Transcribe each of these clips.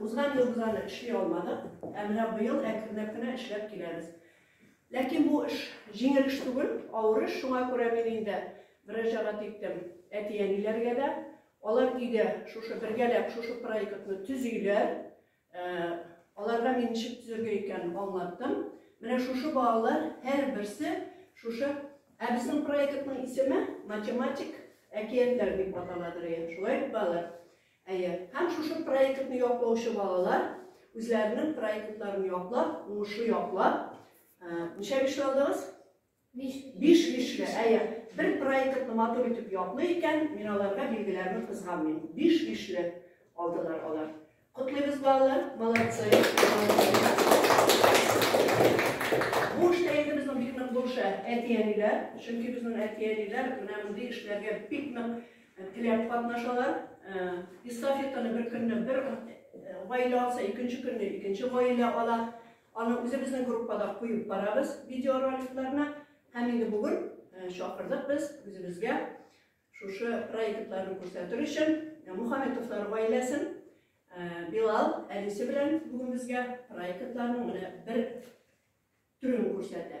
Узган елгы аны эшли алмадык, ә менә быел әкренләп кенә эшләп киләбез. Ләкин бу эш җиңел эш түгел, авыр эш, шуңа күрә мин инде мөрәҗәгать иттем әти-әниләргә дә. Алар өйдә шушы бергәләп шушы проектны төзиләр. Аларга мин ничек төзергә икәнен аңлаттым. Менә шушы балалар һәрберсе шушы Ә безнең проектның исеме математик әкиятләр дип аталадыр, шулай бит, балалар? Әйе, һәм шушы проектны яклаучы балалар үзләренең проектларын яклап, уңышлы яклап, ничә биш алдыгыз? Биш. Биш бишле, әйе. Бер проектны матур итеп яклый икән, мин аларга билгеләрне кызганмыйм. Биш бишле алдылар алар. Котлыйбыз балалар, молодцы. Бу эштә инде безнең бик нык булыша әти-әниләр, чөнки безнең әти-әниләр менә мондый эшләргә бик нык Теләп катнашалар. Эстафетаны бер көнне бер гаилә алса, икенче көнне икенче гаилә ала. Аны үзебезнең группада куеп барабыз видеороликларына. Һәм инде бүген чакырдык без үзебезгә шушы проектларны күрсәтер өчен Мухаметовлар гаиләсен Билал әнисе белән бүген безгә проектларның менә бер төрен күрсәтә.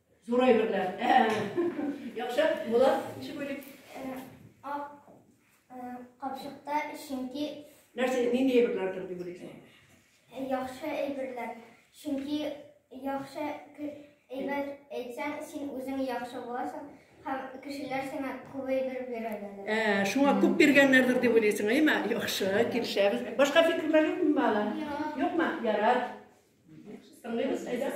Зур әйберләр. Ә, яхшы, була, ничек уйлыйк? Ак капчыкта чөнки Нәрсә, нинди әйберләр тор дип уйлыйсың? Яхшы әйберләр. Чөнки яхшы әйбер әйтсәң, син үзең яхшы буласың һәм кешеләр сиңа күп әйбер бирәләр. Ә, шуңа күп биргәннәрдер дип уйлыйсың, әйме? Яхшы, килешәбез. Башка фикерләр юкмы бала? Юкмы? Ярар. Тыңлыйбыз, әйдә.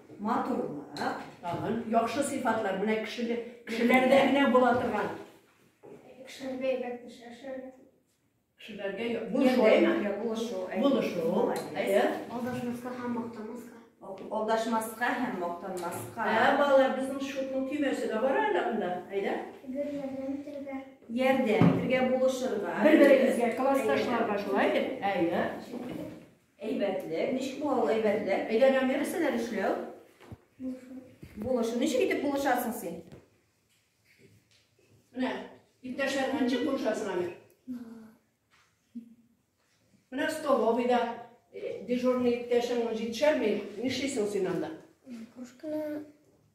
матурлык, тагын яхшы сыйфатлар. Менә кешеле, кешеләрдә генә була торган. Кешеләргә әйбәт эш эшләргә. Кешеләргә я- булышу, әйме? Булышу. Булышу. Әйе. Алдашмаска һәм мактамаска. Алдашмаска һәм мактанмаска. Ә, балалар, безнең шутның көймәсе дә бар әле анда. Әйдә. Гөр ярдәм итәргә. Ярдәм итәргә, булышырга. Бер-берегезгә, классташларга шулай бит? Әйе. Әйбәтлек. Ничек була ул әйбәтлек? Өйдә дәвам нәрсәләр эшләү? Булышу. Ничек итеп булышасың син? Менә, иптәшләреңә ничек булышасың әле? Менә столовыйда э, дежурный иптәшең җитешәлми, нишлисең син анда? Кружканы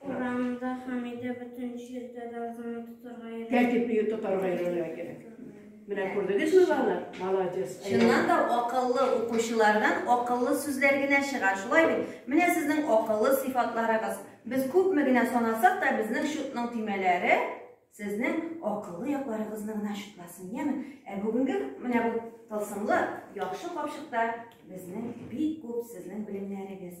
Урамда Хамидә бөтен җирдә дә азаны тотарга йөрә. Тәртип бию тотарга йөрергә кирәк. Менә күрдегезме, балалар? Молодец. Чыннан да акыллы укучылардан акыллы сүзләр генә чыга. Шулай бит? Менә сезнең акыллы сыйфатларыгыз. Без күпме генә санасак та, безнең чутның төймәләре сезнең акыллы якларыгызны гына чутласын, яме? Ә бүгенге менә бу тылсымлы яхшы капчыкта безнең бик күп сезнең белемнәрегез.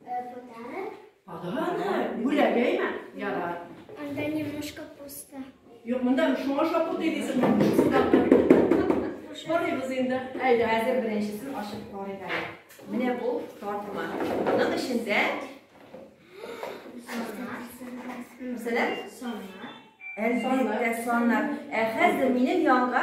Подарок. Подарок. Бүләгәйме? Ярар. Анда немножко пусто. Юк, монда шуңа шапу дигәсең. Карыйбыз инде. Әйдә, әзер беренчесен ашып карыйк әле. Менә бу тартма. Аның эчендә Мәсәлән, саннар. Әлбәттә, саннар. Ә хәзер минем янга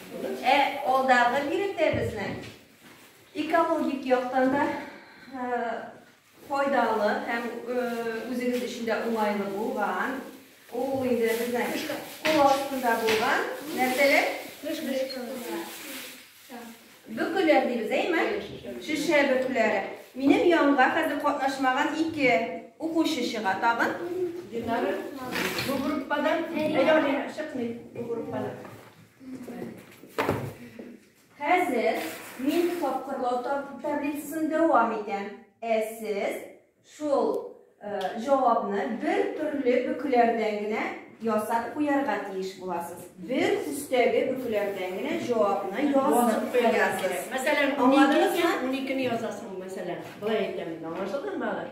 Ә алдагы биредә безнең экологик яктан да файдалы һәм үзегез өчен дә уңайлы булган. Ул инде безнең кул астында булган нәрсәләр? Бөкеләр дибез, әйме? Шешә бөкләре. Минем янга хәзер катнашмаган ике укучы чыга тагын. Динара. Бу группадан. Әйдә, чыкмый бу группадан. Хәзер мин тапкырлау таблицасын дәвам итәм. Ә сез шул җавапны бер төрле бөкләрдән генә ясап куярга тиеш буласыз. Бер төстәге бөкләрдән генә җавапны язып куярга кирәк. Мәсәлән, 12 язасың, мәсәлән. Болай әйтәм, аңлашылдымы, балалар?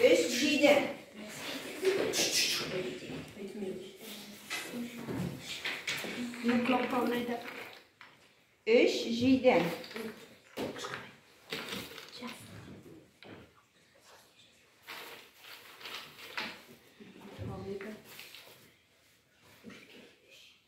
Өч җиде. Өч җиде.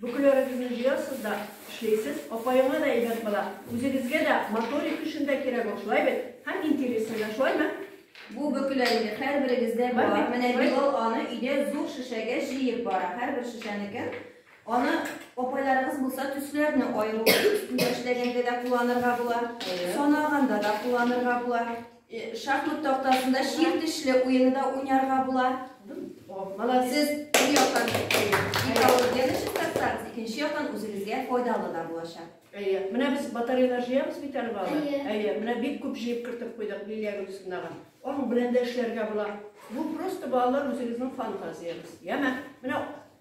Бүкеләрегезне җыясыз да, эшләйсез, апаеңа да әйбәт була, үзегезгә дә моторик көчен дә кирәк ул, шулай бит? Һәм интересын да, шулаймы? Бу бөкеләрегез һәрберегездә бар. Бар бит, Менә шулай. Билал аны өйдә зур шешәгә җыеп бара, һәрбер шешәнекен. Аны апайларыгыз булса, төсләрне аеру өстендә эшләгәндә дә кулланырга була, Әйе. санаганда да кулланырга була. Шахмат тактасында чир тешле уены да уйнарга була. Молодцы. Бер яктан экологияне чистартсагыз, икенче яктан үзегезгә файдалы да булачак. Әйе. Менә без батареялар җыябыз бит әле балалар. Әйе. Әйе. Менә бик күп җыеп кертеп куйдык Лилия Гөлсинага. Аның белән дә эшләргә була. Бу просто балалар үзегезнең фантазиягез. Яме. Менә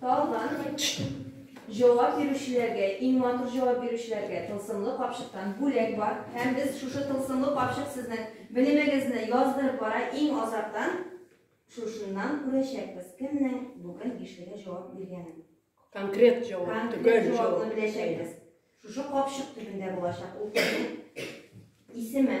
Тагын җавап бирүчеләргә, иң матур җавап бирүчеләргә тылсымлы капчыктан бүләк бар. Һәм без шушы тылсымлы капчык сезнең белемегезне яздырып бара, иң азактан шушыннан күрәчәкбез, кемнең бүген бишлегә җавап биргәнен. Конкрет җавап, төгәл җавап. Җавапны беләчәкбез. Шушы капчык төбендә булачак ул кешенең исеме.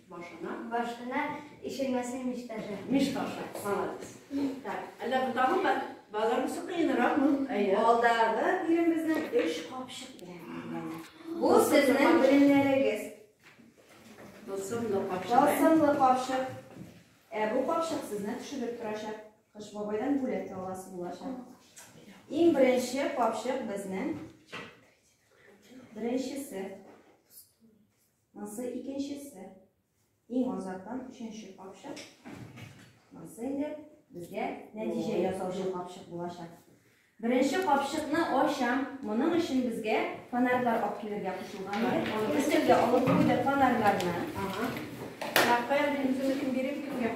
Башына. Башына ишелмәсен мич ташы. Мич ташы. Молодец. Так. Әллә бу тагын бар? Баларымсы кыенрак ну. Алдагы биремезнең өч капчык белән. Бу сезнең белемнәрегез. Тылсымлы капчык. Тылсымлы капчык. Ә бу капчык сезне төшереп торачак. Кыш бабайдан бүләк аласы булачак. Иң беренче капчык безнең. Беренчесе. Монысы икенчесе. Иң азактан өченче капчык. Монысы инде безгә нәтиҗә ясаучы капчык булачак. Беренче капчыкны ачам. Моның өчен безгә фонарьлар алып килергә кушылган иде. Аны өстәлгә алып куйдык фонарьларны. Ага. Рәхмәт, инде биреп килгән.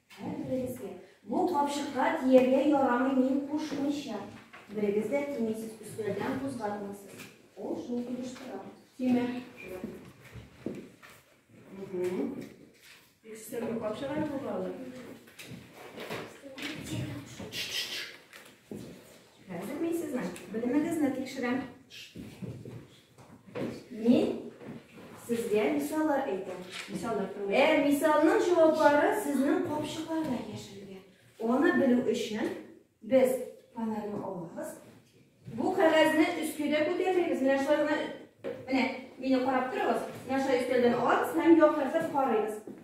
Һәр берегезгә, Бу капчыкка тияргә ярамый мин кушмыйча. Берегез дә тимисез, өстәлдән кузгатмыйсыз. Ул шул килештора. Тимә. Бик өстәлгә капчык әле бу балалар. Хәзер мин сезнең белемегезне тикшерәм. Мин сезгә мисаллар әйтәм. Мисаллар турында. Ә мисалның җаваплары сезнең капчыкларда яшерелгән. Аны белү өчен без фонарьны алабыз. Бу кәгазьне өскедә күтәрмибез. Менә шулай гына. Менә, мине карап торыгыз. Менә шулай өстәлдән алабыз һәм яктыртып карыйбыз.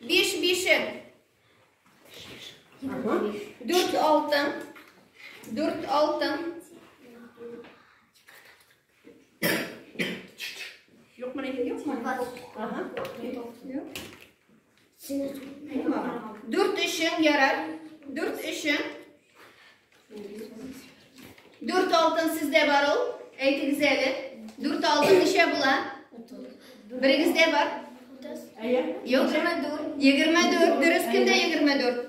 Биш бишем. Дүрт алтын. Дүрт алтын. Юкмы, юкмы? Ага. Юк. Дүрт өчен ярар. Дүрт өчен. Дүрт алтын сездә бар ул. Әйтегез әле. Дүрт алтын ничә була? Берегездә бар? Юк, 24. 24 дөрес кемдә 24?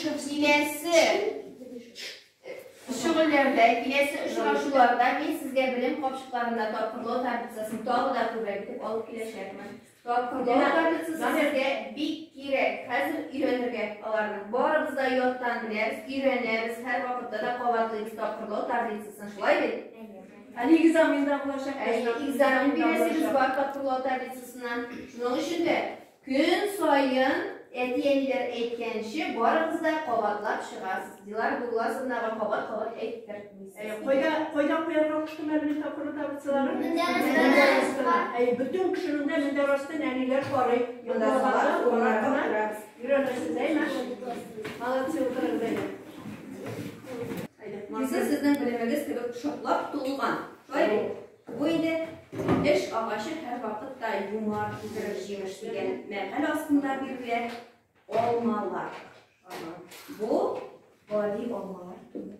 Киләсе шөгыльләрдә, киләсе очрашуларда мин сезгә белем капчыкларында тапкырлау таблицасын тагы да күбрәк итеп алып киләчәкмен. Тапкырлау таблицасы сезгә бик кирәк. Хәзер өйрәнергә аларны. Барыбыз да яттан беләбез, өйрәнәбез, һәр вакытта да кабатлыйбыз тапкырлау таблицасын. Шулай бит? Әле экзаменда булачак. Әле экзамен бирәсегез бар тапкырлау таблицасына. Шуның өчен дә Көн саен, әти-әниләр әйткәнче, барыгыз да кабатлап чыгасыз. Дилар Булласовнага кабат-кабат әйттертмисез. Әйе, кайда, кайда куярга куштым әле тапкыр табытсыларын? Мендәр астына. Әйе, бөтен кешенең дә мендәр астын әниләр карый. Монда кабат урыннар кына. Өйрәнерсез, әйме? Молодцы, утырыгыз әйдә. Әйдә. Йөзе сезнең белемегез кебек шартлап тулган. Шулай бит? Бу инде эш агачы һәрвакыт та юмар китерер җимеш дигән мәкаль астында бирелгән алмалар. Бу гади алмалар түгел.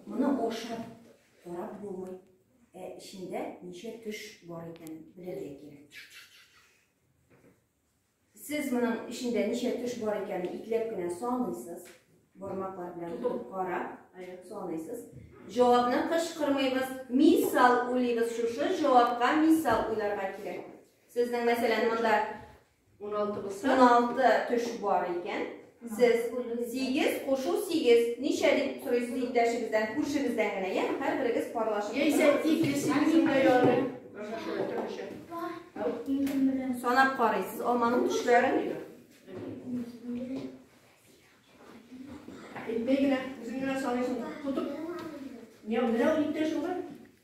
Моны ашап карап булмый. Ә эчендә ничә төш бар икәнен белергә кирәк. Сез моның эчендә ничә төш бар икәнен итләп кенә саныйсыз. Бармаклар белән тотып карап, саныйсыз. Җавапны кычкырмыйбыз, мисал уйлыйбыз. Шушы җавапка мисал уйларга кирәк. Сезнең, мәсәлән, монда 16 булса, 16 төш бар икән. Сез сигез кушу сигез ничә дип сорыйсыз иптәшегездән, күршегездән генә, я һәрберегез парлашып. Яисә тик сигезем дә ярый. Санап карыйсыз алманың төшләрен. Әйтмәй генә, үзең генә саныйсың, тотып. Менә ул иптәш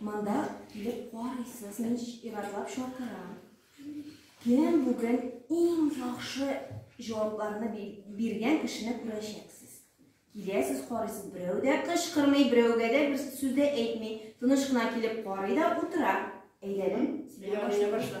Монда килеп карыйсыз, мин иратлап чакырам. Кем бүген иң яхшы җавапларны биргән кешене күрәчәксез. Киләсез, карыйсыз, берәү дә кычкырмый, берәүгә дә бер сүз дә әйтми. Тыныч кына килеп карый да утыра. Әйләнем, сиңа башла.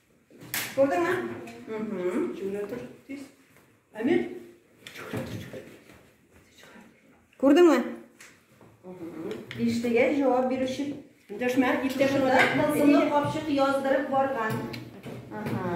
Күрдеңме? Чүгенә тор, тиз. Әмир. Күрдеңме? Биштегә җавап бирүче. Дәшмә, иптәшеңә. Тылсымлы капчык яздырып барган. Ага.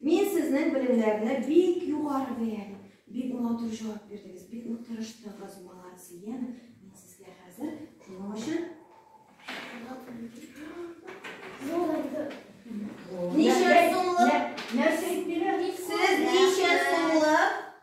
Мин сезнең белемнәрне бик югары бәяли. Бик матур җавап бирдегез, бик нык тырыштыгыз, молодцы, яме. Мин сезгә хәзер шуның өчен Ничә сумлык? Нәрсә әйтмиләр? Сез ничә сумлык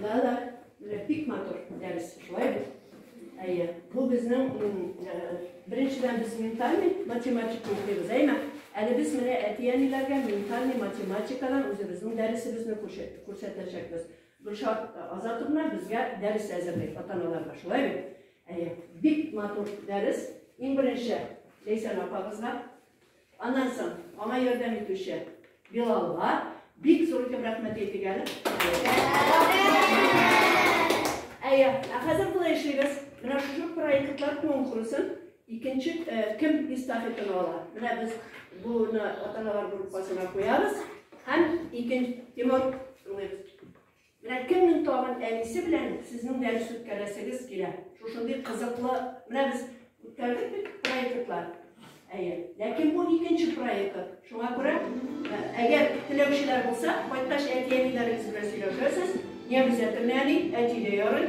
Да, да, менә бик матур дәрес, шулай бит. Әйе, бу безнең беренчедән без ментальный математика укыйбыз, әйме? Әле без менә әти-әниләргә ментальный математикадан үзебезнең дәресебезне күрсәтәчәкбез. Гөлшат Азатовна безгә дәрес әзерли ата-аналарга, шулай бит? Әйе, бик матур дәрес. Иң беренче Ләйсән апагызга Аннан соң аңа ярдәм итүче Билалга бик зур итеп рәхмәт әйтик әле. Әйе, ә хәзер болай эшлибез. Менә шушы проектлар конкурсын икенче э, кем эстафетаны ала? Менә без буны ата-аналар группасына куябыз һәм икенче Тимур Менә кемнең тагын әнисе белән сезнең дәрес үткәрәсегез килә? Шушындый кызыклы, менә без үткәрдек бит проектлар. Әйе. Ләкин бу икенче проект. Шуңа күрә, әгәр теләүчеләр булса, кайткач әти-әниләрегез белән сөйләшәсез. Немец әтемне әни, әти дә ярый.